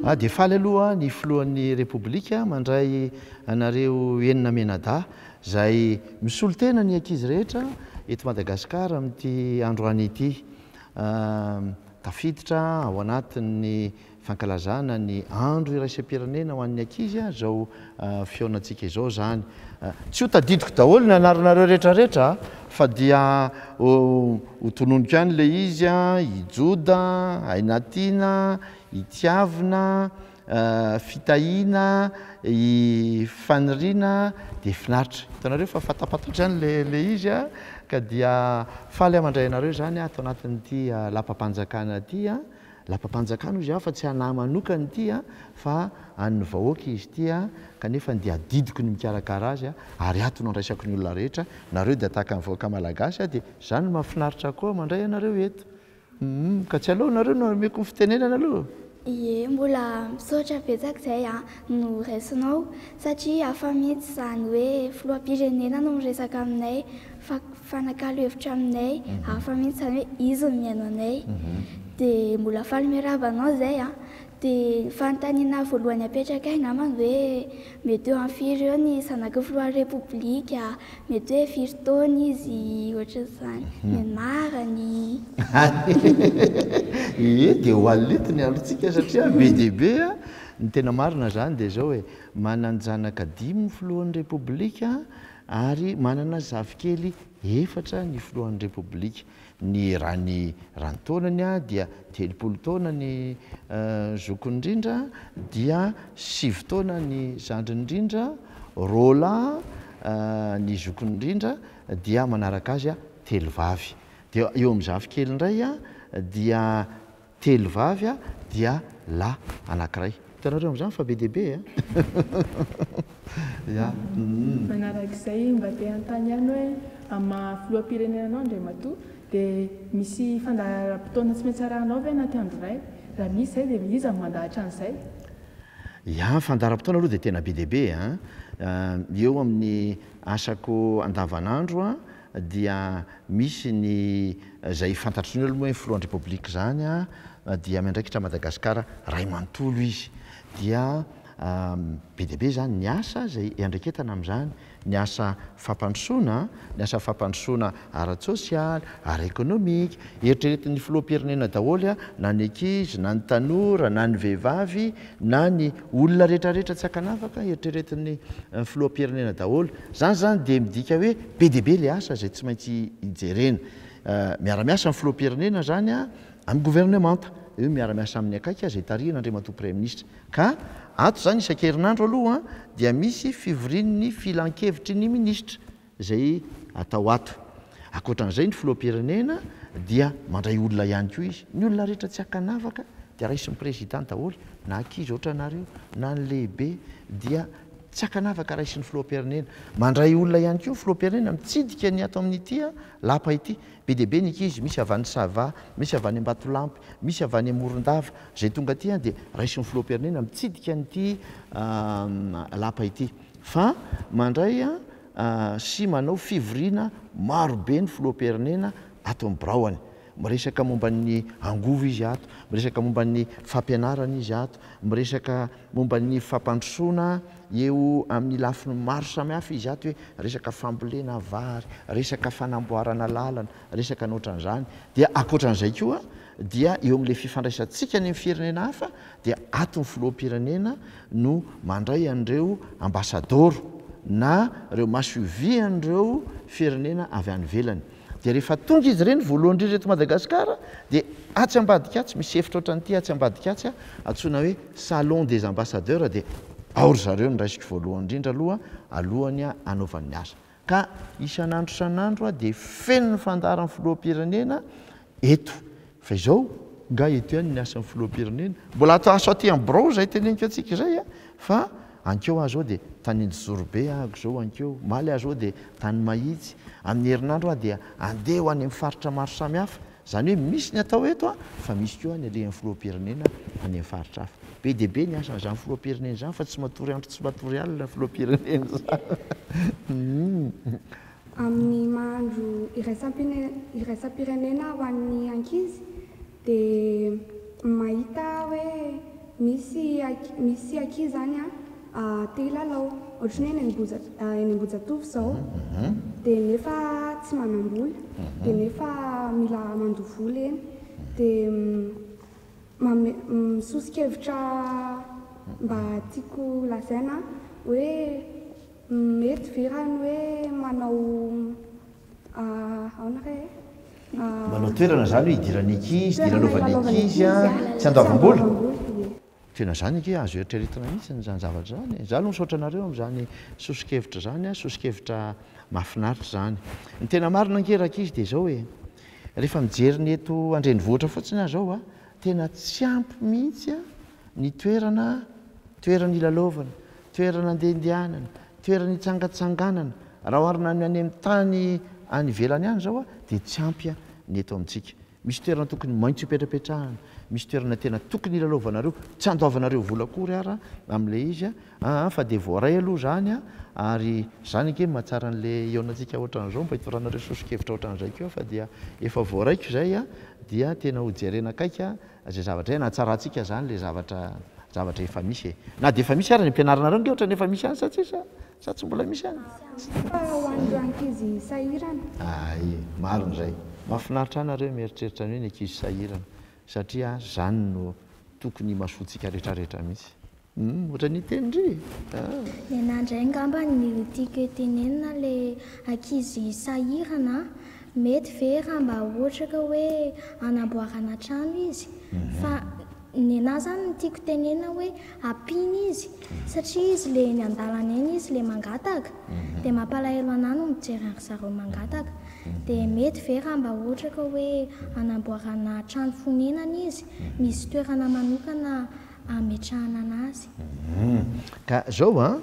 Ah, dia faly aloha ny filohan'ny Repoblika mandray anareo enina mianadahy izay misolo tena ny ankizy rehetra eto Madagasikara amin'ity androany ity. Ah, tafiditra ao anatin'ny Fankalazana ny andro iraisam-pirenena ho an'ny ankizy izao fihaonantsika izao izany. Tsy ho tadidiko daholo ny anaranareo rehetrarehetra fa dia ho tononiko ihany ilay izy, i Joda, Ainatiana, i Tiavina, Fitahiana, i Faniriana dia finaritra. Hitanareo fa fatapatatra ihany ilay izy ka dia faly aho mandray anareo izany ato anatin'ity lapam-panjakana ity. Lapam-panjakana hoy izy aho fa tsy an'ahy manokana ity fa an'ny vahoaka izy ity kanefa dia adidiko ny mikarakara azy ary ato no andraisako ny olona rehetra, nareo dia tahaka ny vahoaka malagasy dia izany no mahafinaritra koa mandray anareo eto humm ka tsy aleo nareo no omeko ny fitenenana aloha. Ie, mbola misaotra betsaka izay no raisinao satria hafa mihitsy izany hoe filoham-pirenena no miresaka aminay fa. mifanakalo hevitra aminay hafa mihitsy zany hoe izy no mihaino anay dia mbola faly miarahaba anao zay an! dia ny fanontaniana voalohany apetrakay namany hoe mety eo amin'ny firy eo ny zanaky filohan'ny repoblika, mety hoe firy taona izy, ohatran'izany, ny anarany. Ee, dia ho alina eto ny androntsika satria be dia be an! ny tena marina zany dia zao e, manan-janaka dimy ny filohan'ny repoblika, ary manana zafikely efatra ny filohan'ny Repoblika, ny eran'ny eran-taonany dia telopolo taona ny zokiny indrindra dia sivy taona ny zandriny indrindra, roalahy ny zokiny indrindra dia manaraka azy telo vavy, dia eo amin'ny zafikely indray dia. Telo vavy a dia lahy anankiray. Hitanareo amin'izany fa be dia be e! Ya umm. Manarak'izay mba te hanontany ihany hoe amin'ny maha filoham-pirenena anao Andriamatoa dia misy fandaharam-potoana tsy maintsy arahanao ve anaty andro iray? Raha misy izay dia iza no mandahatra an'izay? Ya ny fandaharam-potoana aloha dia tena be dia be a! Eo amin'ny asako andavan'andro dia misy ny izay fantatr'izy ireo aloha hoe filohan'ny Repoblika izany dia miandraikitra an'i Madagasikara iray manontolo izy. Dia be dia be izany ny asa izay iandraiketana amin'izany, ny asa fampandrosoana, ny asa fampandrosoana ara-tsosialy, ara-ekonomika. Eritreretin'ny filoham-pirenena daholo na ny ankizy, na ny tanora, na ny vehivavy, na ny olona rehetra rehetra tsy ankanavaka, eritreretin'ny filoham-pirenena daholo. Izany izany dia midika hoe be dia be ilay asa izay tsy maintsy hijerena. Miara-miasa ny filoham-pirenena izany amin'ny governemanta, dia hoe miara-miasa aminy akaiky izay tarihina Andriamatoa Praiminisitra. Ka ato izany isan-kerinandro aloha dia misy fivorian'ny filankevitry ny minisitra izay atao ato. Ankoatran'izay ny filoham-pirenena dia mandray olona ihany koa izy. Ny olona rehetra tsy ankanavaka dia raisin'ny prezida daholo, na ankizy ohatranareo, na ny lehibe dia Tsy ankanavaka raisin'ny filoham-pirenena. Mandray olona ihany koa ny filoham-pirenena mitsidika ny ato amin'ity lapa ity. Be dia be ny ankizy, misy avy any Sava, misy avy any Ambatolampy, misy avy any Morondava, izay tonga aty dia raisin'ny filoham-pirenena mitsidika an'ity lapa ity. Fa mandray sy manao fivoriana maro be ny filoham-pirenena ato amin'ny biraony. Miresaka momba ny angovo izy ato, miresaka momba ny fampianarana izy ato, miresaka momba ny fampandrosoana eo amin'ny lafiny maro samihafa izy ato hoe resaka fambolena vary, resaka fanamboarana lalana, resaka ny ohatran'izany. Dia ankoatran'izay koa dia eo amin'ilay fifandraisantsika ny amin'ny firenena hafa dia ato ny filoham-pirenena no mandray an'ireo ambasadaoro na ireo masoivohon'ireo firenena avy any ivelany. Dia rehefa tonga izy ireny voalohany indrindra eto Madagasikara dia atsy ambadika atsy, misy efitra ohatran'ity atsy ambadika atsy a, antsoina hoe Salon des Ambassadeurs dia ao ry zareo no raisiko voalohany indrindra aloha alohan'ny hanaovany ny asa. Ka isan'andro isan'andro dia feno ny fandaharan'ny Filoham-pirenena eto. Fa izao nga eto ihany ny asan'ny filoham-pirenena? Mbola ato aso aty amin'ny birao izay teneniko antsika izay a! Fa ankeo aho izao dia tany Anjozorobe ahako izao ankeo, omaly aho izao dia tany Mahitsy, amin'ny herinandro aho dia andeha ho any amin'ny faritra maro samihafa. Izany hoe misy ny atao eto a! Fa misy koa ny alehan'ny filoham-pirenena any amin'ny faritra hafa. Be dia be ny asan'izany filoham-pirenena izany fa tsy matory andro tsy matory alina ny filoham-pirenena izany. Amin'ny maha Andro iraisam-pirenena ho an'ny ankizy dia mahita aho hoe misy misy ankizy izany te hilalao ohatry ny hoe eny Ambohijatovo izao dia nefa tsy manam-bola dia nefa mila mandoa vola eny dia manome sosokevitra mba tiako lazaina hoe Mety ve raha ny hoe manao aona re e? Manao toerana izany hoe idirany ankizy, dia ilalaovany ankizy a, tsy andoavam-bola? Tena izany ange azo eritreretina mihitsy izany zavatra izany e! Izaho aloha misaotra anareo amin'izany soso-kevitra izany a, soso-kevitra mahafinaritra izany. Ny tena marina ange rankizy dia izao e, rehefa mijery ny eto an-drenivohitra fotsiny aho izao a, tena tsy ampy mihitsy ny toerana, toerana ilalaovana, toerana andehandehanana, toerana hitsangatsanganana, raha oharina amin'ny any amin'ny tany any ivelany any izao dia tsy ampy ny eto amintsika. Misy toerana tokony maintsy hopetrapetrahana, misy toerana tena tokony hilalaovanareo, tsy handoavanareo vola akory ara amin'ilay izy an, fa dia voaray aloha izany an, ary izany ange no mahatsara an'ilay hihaonantsika ohatran'izao, mba hitoranareo soso-kevitra ohatran'izay koa fa dia efa voaraiko izay an, dia tena hojerena akaiky an. Zay zavatra zay na tsarantsika zany le zavatra zavatra efa misy e. Na dia efa misy ary ny ampianarinareo ange ohatrany efa misy ihany sa tsisy sa tsy mbola misy ihany? Misy ihany fa ho an'ireo ankizy sahirana. Ay, marina izay. Mahafinaritra ahy nareo mieritreritra ny hoe ny ankizy sahirana satria zany no tokony imasoantsika retraretra mihitsy. Humm ohatra ny hiteny ndry aa. Nenah ndray ngamba ny tiako hotenenina le ankizy sahirana a, mety ve raha mba ohatra ka hoe anamboarana trano izy fa nenah zany ny tiako tenenina hoe ampiana izy satria izy le eny andalana eny izy le mangataka de mampalahelo anah no mijery an ry zareo mangataka de mety ve raha mba ohatra ka hoe anamboarana trano fonenana izy misy toerana manokana ametrahanana azy. Humm. Ka zao an,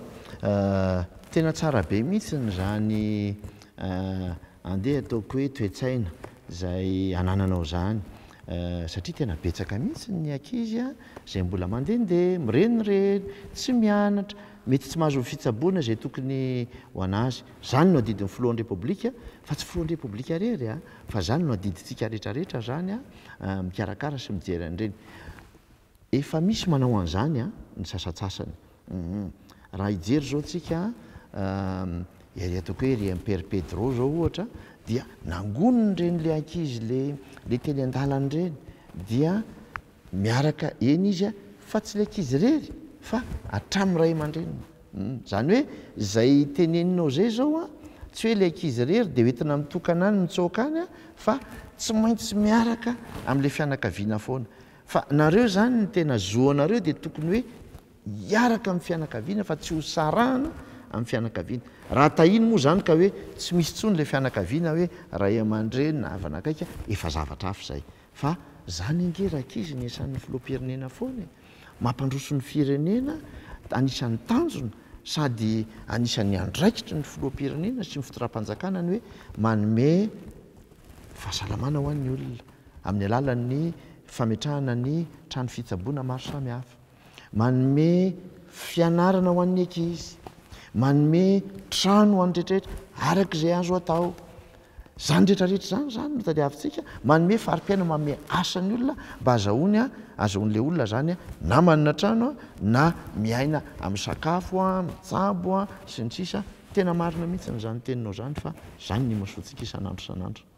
tena tsara be mihitsy izany andeha ataoko hoe toe-tsaina izay anananao izany satria tena betsaka mihitsy ny ankizy an, izay mbola mandehandeha, mirenireny, tsy mianatra, mety tsy mahazo fitsaboana izay tokony ho an'azy. Izany no adidin'ny Filohan'ny Repoblika, fa tsy Filohan'ny Repoblika irery an, fa izany no adidintsika rehetrarehetra izany an, mikarakara sy mijery an'ireny. Efa misy manao an'izany an, ny sasatsasany. Humm. Raha hijery izao tsika an, ery ataoko hoe ery Impère Pedro izao ohatra dia nangoniny ireny le ankizy le le teny an-dalana ireny dia miaraka eny izy an, fa tsy le ankizy irery fa hatramin'ny ray aman-dreniny. Humm. Izany hoe izay teneninao izay izao an, tsy hoe le ankizy irery dia hoentina mitokana any mitsoaka any an, fa tsy maintsy miaraka amin'le fianakaviana foana. Fa nareo zany ny tena zo anareo dia tokony hoe hiaraka amin'ny fianakaviana fa tsy ho sarahana amin'ny fianakaviana. Raha tahiny moa zany ka hoe tsy misy tsony le fianakaviana hoe ray amandreny na havana akaiky a, efa zavatra hafa zay. Fa zany ange rankizy ny esan'ny filoham-pirenena foana e. Mampandroso ny firenena, anisan'ny tanjona sady anisan'ny andraikitry ny filoham-pirenena sy ny fitondram-panjakana ny hoe manome fahasalamana ho an'ny olona. amin'ny alalan'ny fametrahana ny trano fitsaboana maro samihafa, manome fianarana ho an'ny ankizy, manome trano ho an'ny rehetrarehetra araka izay azo atao. Izany rehetrarehetra izany izany no tadiavintsika, manome fari-piainana, manome asa ny olona mba azahoany, azahoan'ilay olona izany na manana trano na miaina amin'ny sakafo, mitsabo sy ny sisa. Tena marina mihitsy izany teninao izany fa izany no imasoantsika isan'andro isan'andro.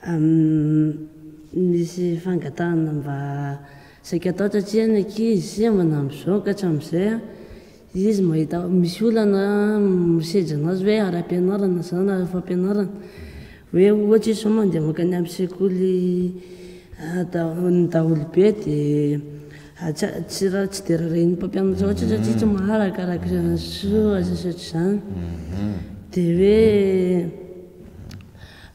Aminy misy fangatahana mba saika atao satria ny ankizy manampy zao ka hatramin'izay izy mahita misy olana misedra anazy hoe ara-pianarana zany na fampianarana hoe ohatra izy zao mandeha makany amin'ny sekoly ny daholobe dia tsy tsy dia rarahin'ny mpampianatra loatra satria tsy maharaka araka izany sy ohatr'izany dia hoe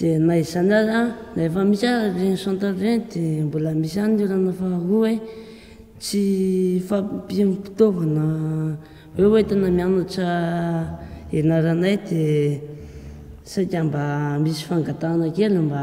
Dia na izany aza, na efa misy aza ireny centre ireny dia mbola misy ihany ny olana faharoa hoe tsy fahampiam-pitaovana hoe hoentina mianatra ianaranay dia saika mba misy fangatahana kely mba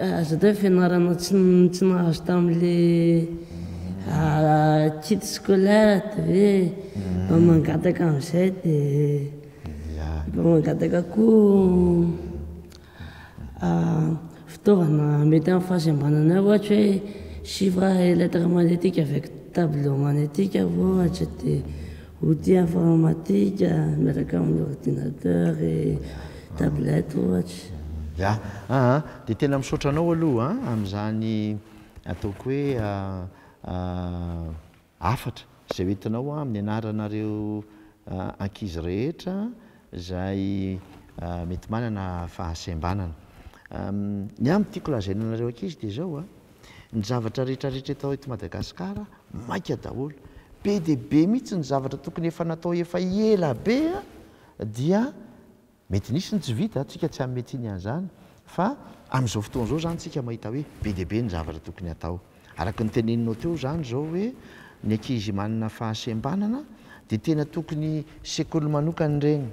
Aza atao hoe fianarana tsy nahazo tamin'ilay kit scolaire dia hoe mangataka an'izay dia mba mangataka koa fitaovana mety amin'ny fahasembanana eo ohatra hoe chiffres et lettres magnétiques avec tableau magnétique ohatra dia. Outil informatique miaraka amin'ny ordinateur et tablette ohatra. Ya aa de tena misaotra anao aloha an amin'izany ataoko hoe hafatra izay hoentinao amin'ny anaranareo ankizy rehetra izay mety manana fahasembanana. Ny ahy ny tiako lazaina anareo ankizy dia izao a. Ny zavatra rehetra rehetra eto eto Madagascar maika daholo. Be dia be mihitsy ny zavatra tokony efa natao efa ela be dia mety nisy ny tsy vita, tsika tsy hanome tsiny an'izany fa amin'izao fotoana izao izany tsika mahita hoe be dia be ny zavatra tokony hatao. Araka ny teneninao teo izany izao hoe ny ankizy manana fahasembanana dia tena tokony sekoly manokana ireny.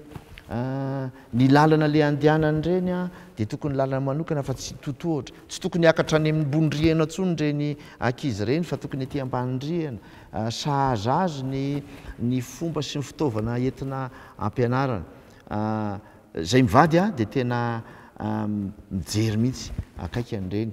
Ny lalana le andehanany ireny dia tokony lalana manokana fa tsy totohatra. Tsy tokony hiakatra any ambony rihana intsony ireny ankizy ireny fa tokony ety ambany rihana. Sahaza azy ny ny fomba sy ny fitaovana entina ampianarana. Izay mivady dia tena mijery mihitsy akaiky an'ireny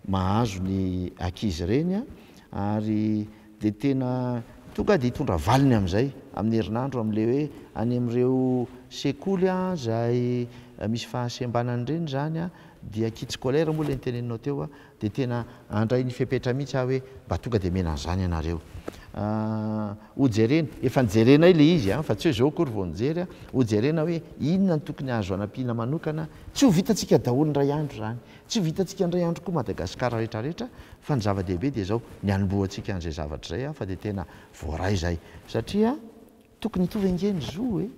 mahazo ny ankizy ireny ary dia tena tonga dia hitondra valiny amin'izay amin'ny herinandro amin'ilay hoe any amin'ireo sekoly izay misy fahasembanana ireny izany dia kit scolaire moa ilay noteneninao teo dia tena handray ny fepetra mihitsy aho hoe mba tonga dia omena an'izany ianareo ho jerena, efa nojerenay ilay izy fa tsy hoe izao akory vao nijery, ho jerena hoe inona no tokony azo anampiana manokana, tsy ho vitantsika daholo indray andro izany Tsy vitantsika indray andro koa Madagascar rehetra rehetra fa ny zava dehibe dia izao ny hanombohantsika an'izay zavatra izay aho fa dia tena voaray izay satria tokony hitovy ange ny zo e!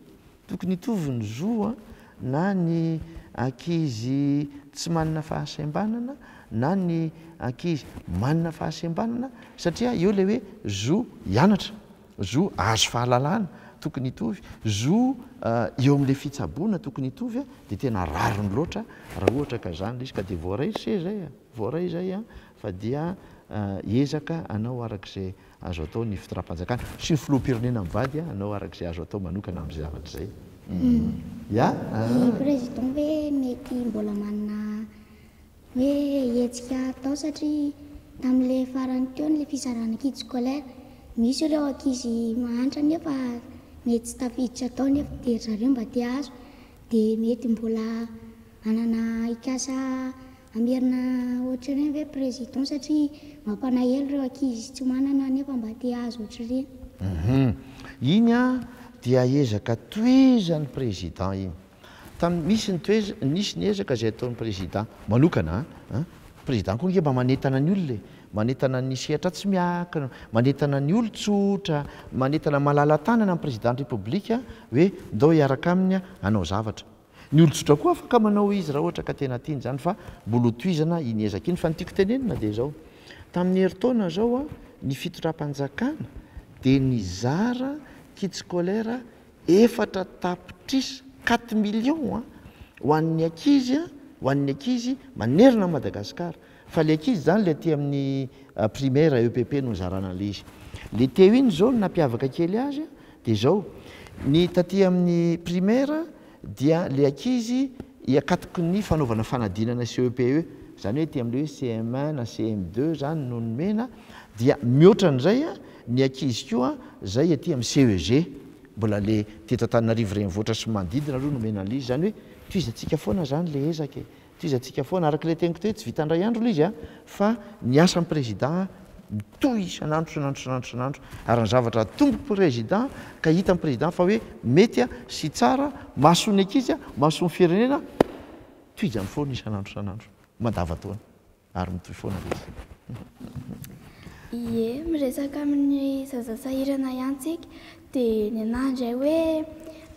tokony hitovy ny zo an na ny ankizy tsy manana fahasembanana na ny ankizy manana fahasembanana satria eo ilay hoe zo hianatra. Zo ahazo fahalalana tokony hitovy, zo eo amin'ilay fitsaboana tokony hitovy dia tena rariny loatra raha ohatra ka izany ilay izy ka dia voaray ry se izay a! voaray izay a! fa dia ezaka anao araka izay azo atao ny fitondram-panjakana sy ny filoham-pirenena mivady a! anao araka izay azo atao manokana amin'izay zavatra izay a! Ry président ve mety mbola manana Hoe hetsika atao satria tamin'ilay farany teo ilay fizarana kit scolaire. Misy ireo ankizy mahantra nefa mety tsy tafiditra tao nefa dia ry zareo mba te hahazo dia mety mbola hanana hikasa hamerina ohatran'ireny ve président satria mampanaelo ireo ankizy tsy manana nefa mba te hahazo ohatran'ireny. Hum iny an dia ezaka tohizan'ny président iny. Tamin'ny nisy ny toez, nisy ny ezaka izay ataon'ny prezida manokana an, prezida koa ange mba manentana ny olona e, manentana ny sehatra tsy miankina, manentana ny olon-tsotra, manentana malala-tanana ny prezidan'ny repoblika hoe ndao hiaraka aminy hanao zavatra. Ny olon-tsotra koa afaka manao izy raha ohatra ka tena tiany izany fa mbola ho tohizana iny ezaka iny. Fa ny tiako tenenina dia izao, tamin'ny herintaona izao ny fitondram-panjakana dia nizara kits scolaires Efatra tapitrisa, quatre millions an, ho an'ny ankizy an, ho an'ny ankizy manerana an'i Madagasikara. Fa ilay ankizy izany ilay aty amin'ny primaire, EPP no nizarana an'ilay izy. Ilay teo iny izao no nampiavaka kely azy an, dia izao, ny taty amin'ny primaire dia ilay ankizy hiakatoky ny fanaovana fanadinana CEPE, izany hoe aty amin'ilay hoe CM1 na CM2 izany no nomena, dia mihoatra an'izay an, Ny ankizy koa zay aty am CEG mbola le teto Antananarivo renivohitra sy manodidina aloha no omena anle izy zany hoe tohizantsika foana zany le ezaka e, tohizantsika foana araka le teniko teo hoe tsy vita ndray andro le izy a, fa ny asan prezida mitohy isanandro isanandro isanandro isanandro ary ny zavatra atombo prezida ka hitan prezida fa hoe mety a sy tsara masony ankizy a masony firenena tohizany foana isanandro isanandro mandava taona. ary mitohy foana ve izy? Ie, miresaka amin'ny zaza sahirana ihany tsika dia ny anahy indray hoe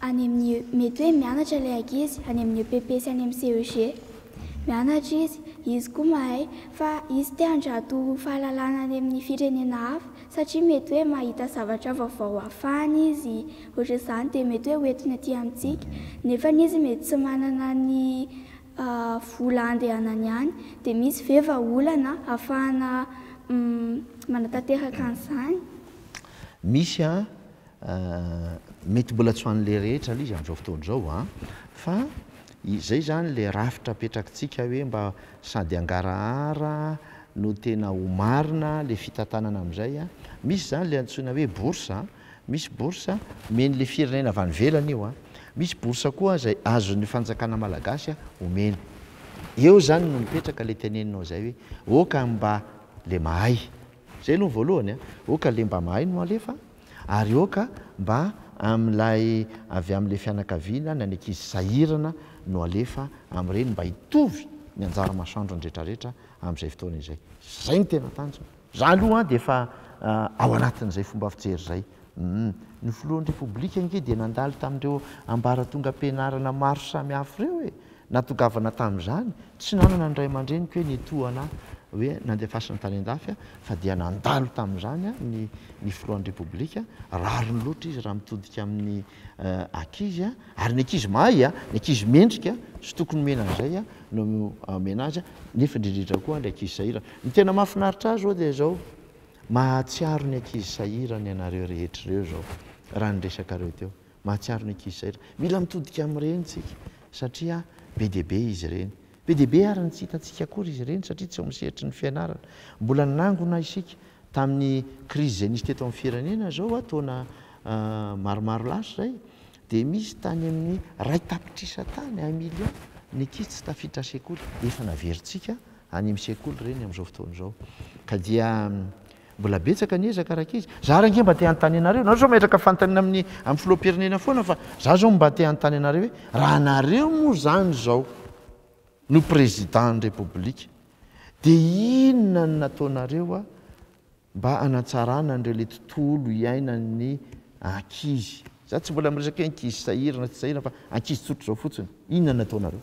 any amin'ny mety hoe mianatra ilay ankizy any amin'ny EPP sy any amin'ny CEG. Mianatra izy, izy koa mahay fa izy te handrato fahalalana any amin'ny firenena hafa satria mety hoe mahita zavatra vaovao hafahany izy ohatr'izany dia mety hoe ho entiny aty amintsika nefa izy mety tsy manana ny vola andehanany ihany dia misy ve va olana afahana manatanteraka an'izany? Misy an, mety mbola tsy ho an'ilay rehetra aloha izy amin'izao fotoana izao an, fa izay izany ilay rafitra apetrakitsika hoe mba sady hangarahara no tena ho marina ilay fitantanana amin'izay an, misy izany ilay antsoina hoe bourse an, Misy bourse omeny le firenena avy any ivelany io a. Misy bourse koa izay azon'ny fanjakana malagasy a omeny. Eo zany no mipetraka le teneninao zay hoe oh ka mba le mahay. Zay aloha ny voalohany a. Oh ka le mba mahay no alefa ary oh ka mba amin'ilay avy amin'ilay fianakaviana na ny ankizy sahirana no alefa amin'ireny mba hitovy ny anjara masoandrony retraretra amin'izay fotoana izay. Zay no tena tanjona. Za aloha an dia efa ao anatin'izay fomba fijery izay. Ny filohan'ny Repoblika ange dia nandalo tamin'ireo ambaratongam-pianarana maro samihafa ireo e! Natongavana tamin'izany, tsy nanana ny ray aman-dreniko hoe nitohana ahy hoe nandefasana tany an-dafy aho fa dia nandalo tamin'izany ny filohan'ny Repoblika, rariny loatra izy raha mitodika amin'ny ankizy ary ny ankizy mahay ny ankizy mendrika sy tokony omena an'izay no omena azy nefa indrindrindra koa ilay ankizy sahirana ny tena mahafinaritra ahy izao dia izao mahatsiaro ny ankizy sahirana ianareo rehetra ireo izao raha ny resakareo teo mahatsiaro ny ankizy sahirana mila mitodika amin'ireny isika satria be dia be izy ireny Be dia be àry ny tsy hitantsika akory izy ireny satria tsy ao amin'ny sehatry ny fianarana. Mbola nangona isika tamin'ny krizy izay nisy teto amin'ny firenena izao, taona maromaro lasa izay, dia misy tany amin'ny iray tapitrisa tany, un million, ny ankizy tsy tafiditra sekoly. Efa naverintsika any amin'ny sekoly ireny amin'izao fotoana izao. Ka dia. Mbola betsaka ny ezaka rankizy. Za ary ange mba te hanontany anareo, nareo sao metraka fantanina amin'ny amin'ny filoham-pirenena foana fa za zao mba te hanontany anareo hoe raha nareo moa zany zao no président ny repoblika de inona no nataonareo a mba hanatsarana an'ireo le tontolo iainan'ny ankizy, za tsy mbola miresaka hoe ankizy sahirana tsy sahirana fa ankizy tsotra zao fotsiny, inona no nataonareo?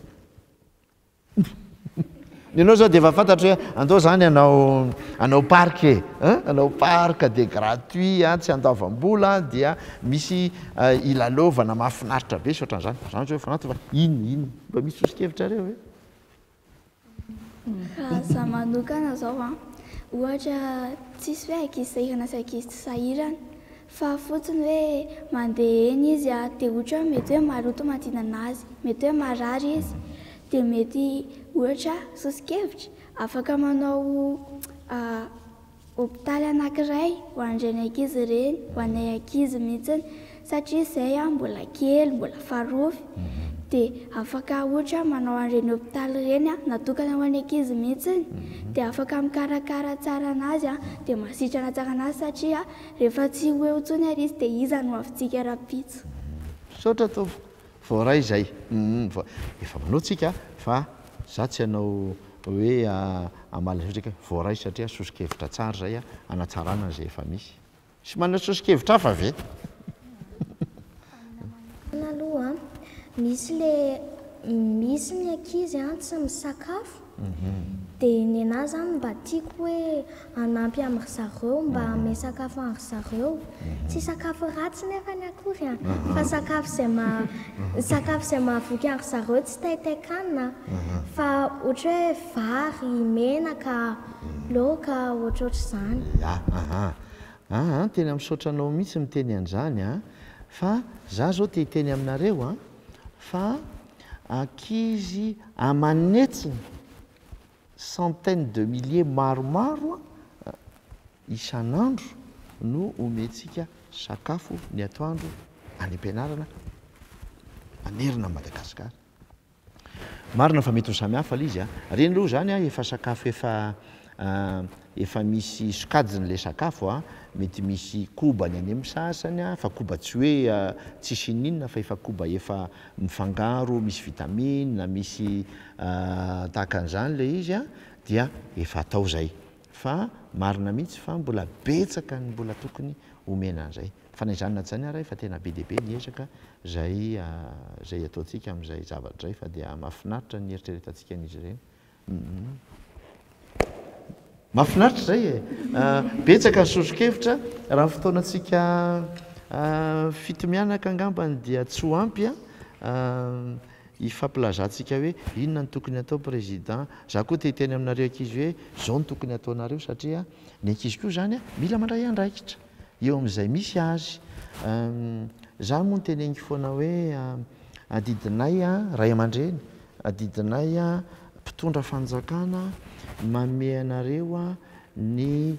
Ny anao zao dia efa fantatro hoe andao zany hanao hanao parc e, hein, hanao parc dia gratuit an, tsy andoavam-bola an, dia misy hilalaovana mahafinaritra be sy ohatran'izany, zany zao efa anaty fa inona inona? Mba misy soso-kevitrareo ve? Raha za manokana zao an, ohatra tsisy hoe ankizy sahirana sy ankizy tsy sahirana Fa fotsiny hoe mandeha eny izy a, dia ohatra hoe mety hoe maroto manodidina azy, mety hoe marary izy, dia mety ohatra soso-kevitra, afaka manao hopitaly anankiray ho an'ireny ankizy ireny, ho anay ankizy mihitsy, satria izay mbola kely, mbola farofy, dia afaka ohatra manao an'ireny hopitaly ireny natokana ho an'ny ankizy mihitsy, dia afaka mikarakara tsara an'azy, dia masitrana tsara an'azy satria. Rehefa tsy ho eo intsony ary izy dia iza no havintsika rahampitso. Misaotra tompoko, voaray izay. Humm, efa manao tsika fa za tsy hanao hoe hamaly an'izao tsika, voaray satria soso-kevitra tsara izay hanatsarana izay efa misy. Tsy manao soso-kevitra hafa ve? Amina manokana aloha an, misy le misy ny ankizy an tsy misakafo, dia ny anah zany mba tiako hoe hanampy an ry zareo mba hanome sakafo an ry zareo, tsy sakafo ratsy nefany akory an, fa sakafo izay maha sakafo izay mahavoky an ry zareo tsy taitain-kanina fa ohatra hoe vary, menaka, laoka, ohatrohatr'izany. Ya, ahaa, ahaa, tena misaotra anao mihitsy miteny an'izany an, Fa za zao te hiteny aminareo a, fa ankizy aman'hetsiny centaines de milliers maromaro a, isan'andro no omentsika sakafo ny atoandro any am-pianarana manerana an'i Madagasikara. Marina fa mety ho samy hafa ilay izy a! Ireny aloha izany a, efa sakafo efa efa misy sokajiny ilay sakafo a, mety misy koba ny any amin'ny sasany a, fa koba tsy hoe tsisy ininona fa efa koba efa mifangaro misy vitamine, misy tahaka an'izany ilay izy a, dia efa atao izay. Fa marina mihitsy fa mbola betsaka ny mbola tokony omena an'izay. Fa na izany na izany ary efa tena be dia be ny ezaka izay izay ataontsika amin'izay zavatra izay fa dia mahafinaritra ny eritreretantsika an'izy ireny. Mahafinaritra izay e! Betsaka ny sosokevitra raha ny fotoanantsika fito mianaka angambany dia tsy ho ampy a hifampilazantsika hoe inona no tokony atao président. Za koa te hiteny aminareo ankizy hoe zao no tokony ataonareo satria ny ankizy koa izany a mila mandray andraikitra. Eo amin'izay misy azy. Izaho moa noteneniko foana hoe adidinay ray aman-dreny, adidinay mpitondra fanjakana manome anareo ny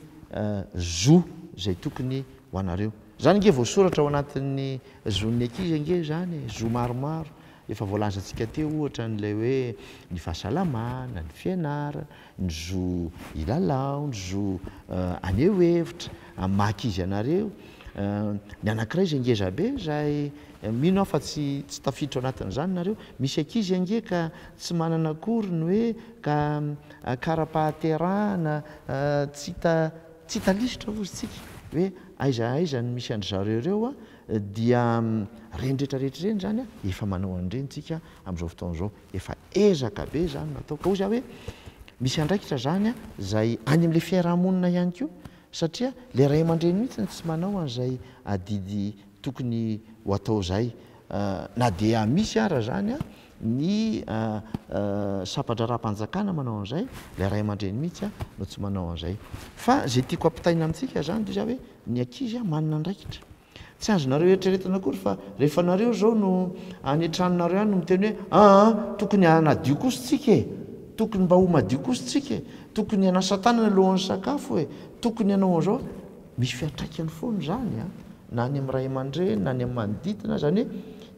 zo izay tokony ho anareo. Izany ange voasoratra ao anatin'ny zon'ny ankizy ange izany e! Zo maromaro efa voalazantsika teo ohatra an'ilay hoe ny fahasalamana, ny fianarana, ny zo hilalao, ny zo haneho hevitra, amin'ny maha ankizy anareo. Ny anankiray izay ngeza be izay, mino aho fa tsy tsy tafiditra ao anatin'izany nareo, misy ankizy ange ka tsy manana akory ny hoe ka kara-pahaterahana, tsy hita tsy hita lisitra hozy tsika hoe aiza aiza no misy an-dry zareo ireo an, dia ireny rehetra rehetra ireny izany an, efa manao an'ireny tsika amin'izao fotoana izao. Efa ezaka be izany no atao. Ka hoy za hoe misy andraikitra izany izay any amin'ilay fiaraha-monina ihany koa satria ilay ray aman-dreny mihitsy no tsy manao an'izay adidy tokony ho atao izay. Na dia misy ara izany ny sampa-draharaham-panjakana manao an'izay, ilay ray aman-dreny mihitsy no tsy manao an'izay. Fa izay tiako ampitaina amintsika izany dia hoe ny ankizy manana andraikitra. Tsy azonareo eritreretana akory fa rehefa nareo izao no any an-tranonareo any no miteny hoe aa tokony hanadio kosa tsika e! tokony mba ho madio kosa tsika e! tokony hanasa tanana alohan'ny sakafo e! tokony hanao an'izao e! misy fiantraikany foana izany an! na any amin'ny ray aman-dreny na any amin'ny manodidina izany hoe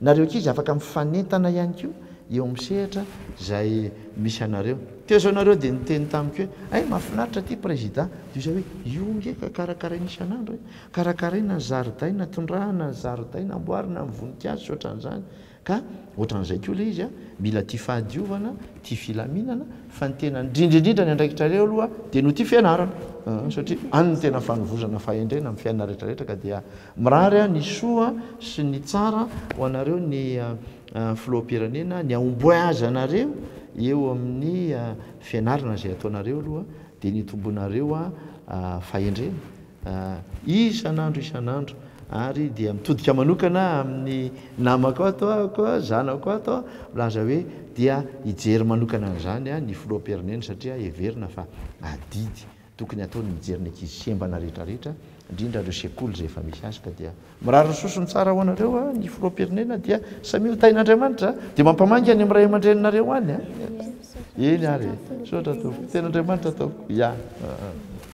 nareo ankizy afaka mifanentana ihany koa eo amin'ny sehatra izay misy anareo. Teo izao nareo dia niteny tamiko hoe hay mahafinaritra ity prezida! dia izaho hoe io nge ka karakaraina isan'andro e! Karakaraina ny zaridaina, tondrahana ny zaridaina, amboarina amin'ny voninkazo sy ohatran'izany ka ohatran'izay koa ilay izy a! Mila tia fahadiovana, tia filaminana fa ny tena indrindra indrindra ny andraikitrareo aloha dia no tia fianarana an! satria any no tena fanovozana fahendrena amin'ny fiainana rehetra rehetra ka dia mirary aho ny soa sy ny tsara ho anareo ny Filoham-pirenena, ny ahomboy azy anareo eo amin'ny fianarana izay ataonareo aloha dia ny itombonareo fahendrena Isan'andro isan'andro ary dia mitodika manokana amin'ny namako ato aho, zanako ato aho, milaza hoe dia hijery manokana an'izany ny Filoham-pirenena satria heverina fa adidy tokony hataony ny mijery ny ankizy sembana rehetra rehetra, indrindra ireo sekoly izay efa misy azy ka dia mirary ny sosony tsara ho anareo ny Filoham-pirenena dia samia ho tahin'Andriamanitra dia mampamangy any amin'ny ray aman-dreninareo any an! Eny ary e! Misaotra Tompoko, tena Andriamanitra ataoko, ya!